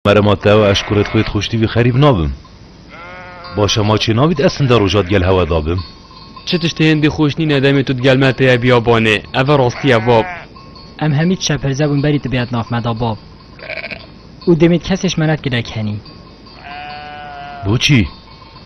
Merema Teo ez ji kurê xwê dixuştîvî xerîb nabim. Baş e ma çênabît ez sinde roja digel hewe dabim. Çi tiştê hêndî xweş nîne demê tu digel me teye biyabanê. Ev e rastî ye bab. Em hemî tişe pirze bûn berî tu bêyet nav me da bab. Û demê di kesê ji me ne dikir ek henî. Boçî?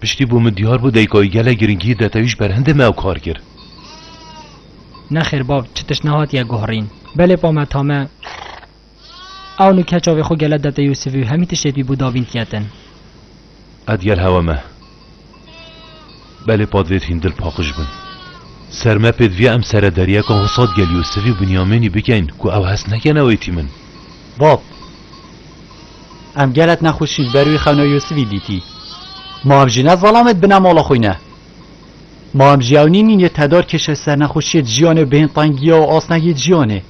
Piştî bû min diyar bû deyikayî gelek giringiyî de tewî ji ber hindê me ew kar kir. Nexêr bav çi tişt nehatiye guhrîn. Belê pa me tame ew nû keça vê xwe gele de te Yûsivî û hemî tiştê pî bû davîn tiye tin. Qet gel hewa me. Belê pa divêt hîn dil paqij bin. Ser me pê diviye em sere deriyeka Husat gel Yûsivî û Binyamînî bikeyn ku ew hest nekene wê tîmin. Bab! Em gelek nexweşî li ber wî xewna Yûsivî dîtî. Ma em jî ne zalam e di bina mala xwe ne. Ma em jî ew nîn yê tedar kêşe sernexweşiyê di jiyanê û bihên tengiya û asnegî di jiyanê.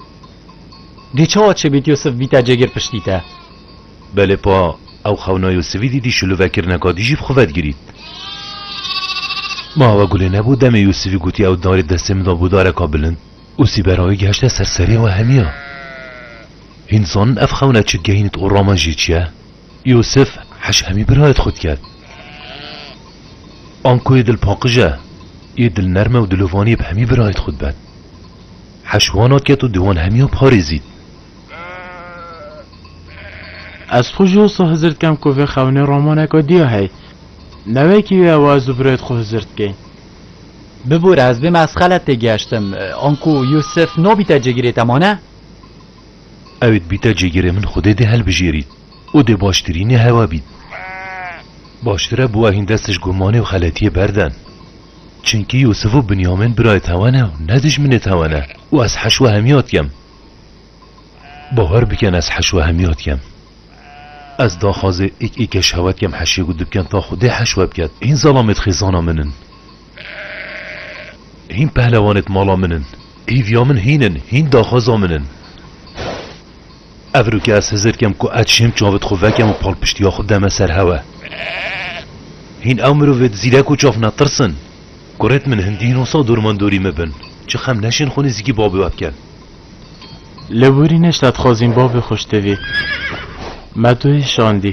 Dê çawa çêbît Yûsiv bîte cêgir piştî te. Belê pa ew xewna Yûsivî dîtî şilûvekirneka dijî bi xwe vedigirît. Ma ew gulê nebû demê Yûsivî gotî ew darê destê min da bo dareka bilind û sîbera wî gihişte ser serê we hemiya. Hîn zanin ev xewna çi gehînit û raman jî çi ye. Yûsif heş hemî birayet xwe diket. Anko yê dilpaqij e, yê dilnerm e û dilovanî ye bi hemî birayet xwe dibet. Heş wan atiket û di wan hemiyan parêzît. Ez xwe ji wisa hizir dikem ku vê xewnê ramaneke dî ye hey. Newekî wê ew ez û birayet xwe hizir dikên. Bibûre ez bême ez xelet têgihiştim. Anko Yûsif nabîte cêgirê te mane? Ew ê dibîte cêgirê min Xwedê dê hilbijêrît û dê baştirînê hewa bît. Baştir e bûa hîn dest ji gumanê û xeletiyê berden. Çimkî Yûsif û Binyamîn birayê tewen e û ne dijminê tewen e û ez heş we hemîya dikem. Bawer bikin ez heş we hemîya dikem. Ez daxwazê îk îkeş hewa dikem heşê ku dibken ta Xwedê heş we biket. Hîn zalamê dixêzana min in. Hîn pehlewanêt mala min in. Hîvya min hîn in, hîn daxwaza min in. Ev rû ke ez hizir kem ku ez çêm çavê xwe vekem û palpiştiya xwe deme ser hewe. Hîn ew mirovêt zîrek û çav netirs in. Kurêt min hindî hîn wisa dor man dorî me bin. Çi xem neşên xwe nêzîkî bavê we bikin. Li Wîrînê şaddxwazîn bavê xwe ji tevî me duyê şandî.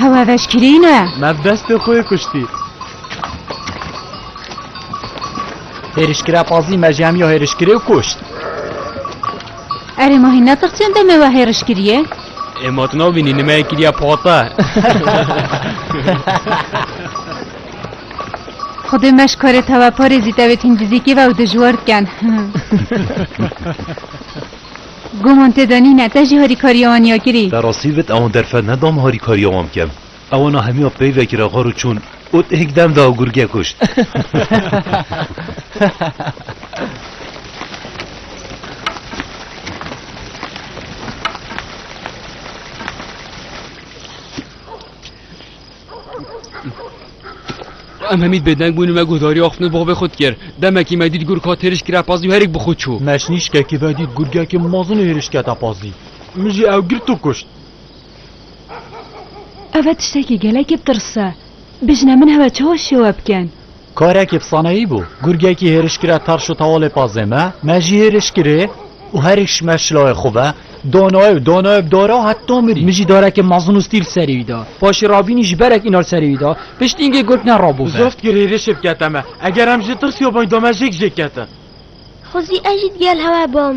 Hewa veşkirîne. Me bi destê xwe kuştî. Hêrişkira Fazlî mercamiya hêrişkirê û kuşt. Erê ma hîn netiq çend demê we hêriş kiriye? Ê ma tu nabînî nimeyê kiriya pate. Xwedê me ji karê te ve parêzî tevê tîmdizîkê ve û dijwar diken. Guman tê de nîne te jî harîkariya wan ya kirî. Te rastî vit ewan derfet nedam harîkariya wan bikim. Ewana hemiya pey vekira xwe rû çûn û têk dem da û gurge kuşt. Em hemî bêdeng bûn û me guhdarîya xwe bi bavê xwe dikir. Demekî me dît gurka têriş kira pazî û herêk bi xwe çû. Me ji nîşkekî ve dît gurgekî mezin û hêriş kete pazî. Min jî ew girt û kuşt. Ev e tiştekî gelekî bi tirs e. Bijne min hev e çawa şêwe bikin. Karekî bi saneyî bû. Gurgekî hêriş kire tarş û tawalê pazê me. Me jî hêriş kirê û herî ji me şilayê xwe ve danaye û danaye bi dara û heta mirî. Min jî darekê mezin û stîl serê wî da. Paşê rabînî ji berek înar serê wî da. Pişt îngê gurg ne rabo ve. Zeft kir hêrişê bikete me. Eger em jê tirsî yo bang da me jêk jêk ketin. Xwezî ez jî digel hewe bam.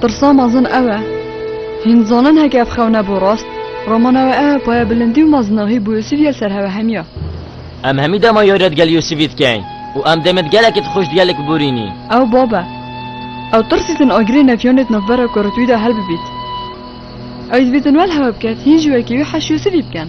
Pirsa mezin ew e, hîn dizanin heke ev xew nebû rast, romana we ev hepaya bilindî û mezinahî bû Yûsîf yê li ser hewe hemiya. Em hemî dema yoyret gel Yûsîfî dikeyn û em demê di gelekî di xwişt gelek bûrînî. Ew bab e. Ew tirsî din agirê nefiyanê di navbera ku rit wî de hel bibît. Ew dibî din wel hewe biket hîn ji wekî wî heş Yûsîfî biken.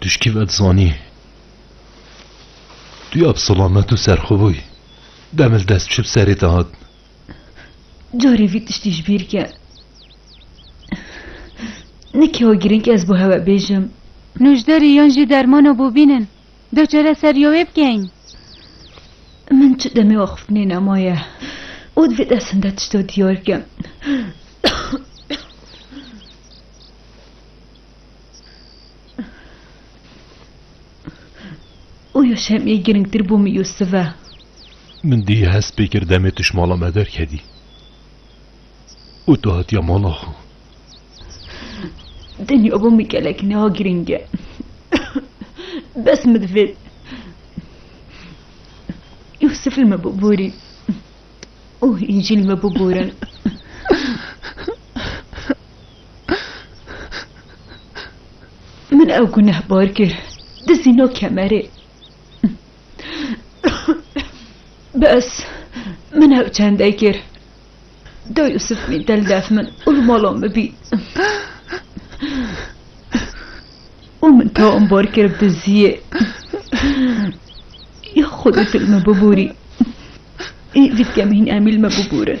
Tu ji kî ve dizanî? Tu ya bi silamet û serxwe bûyî. Demê li dest çi bi serê te hat? Carê vî tiştî ji bîr ke. Ne kewa girîng ez bo hewe bêjim. Nûjderî yan jî dermano bû bînin. Do çare ser yo wê bikeyn. Min çi demê we xiftinê nemaye. Û divê destinde tişto diyar kim. Oya şemê girngtir bû min Yusuf e. Min dî hez pê kir demê tu ji mala me derkevî û tu hatiya mala xwe. Dinya bû min gelek niha girîng e. Bes min divê Yusuf li me biborî û hîn jî li me biborin. Min ew gunehbar kir, dizî no kemerê. Bes, min ew çendê kir. Do Yusuf mî del def min û li mala min bî. Û min te ambar kir diziyê. Ya Xwedê tu li me bibûrî. Î vîtkemîn em î li me bibûrin.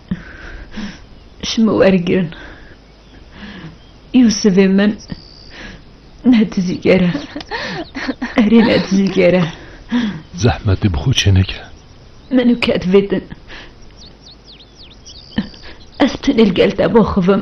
ji min wergirin. Yûsivê min ne dizîger e. Erê ne dizîger e. Zehmetê bi xwe çêneke. Min û kedvê din. Ez tenê li gel te bixivim.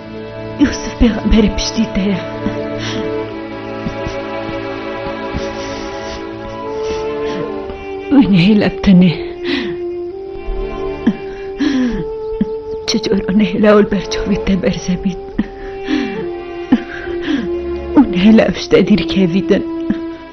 Yusuf pêxemberê piştî te ye. Wî nehêle bi tenê. Çi cor û nehêle ol berçavê te berze bît. Û nehêle ev şte dîrkevî din.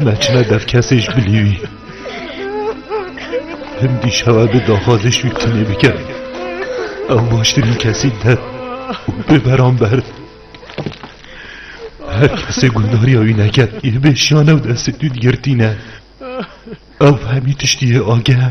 Neçine dev kesê ji bilî wî. Him dîşewa bi daxwazê ji wî tinê bike. Ew baştirîn kesî der û bê beramber. Her kesê gundariya wî neke yê bê şiyanew destê tu digirtîne. Ew bi hemî tiştî yê ageh e.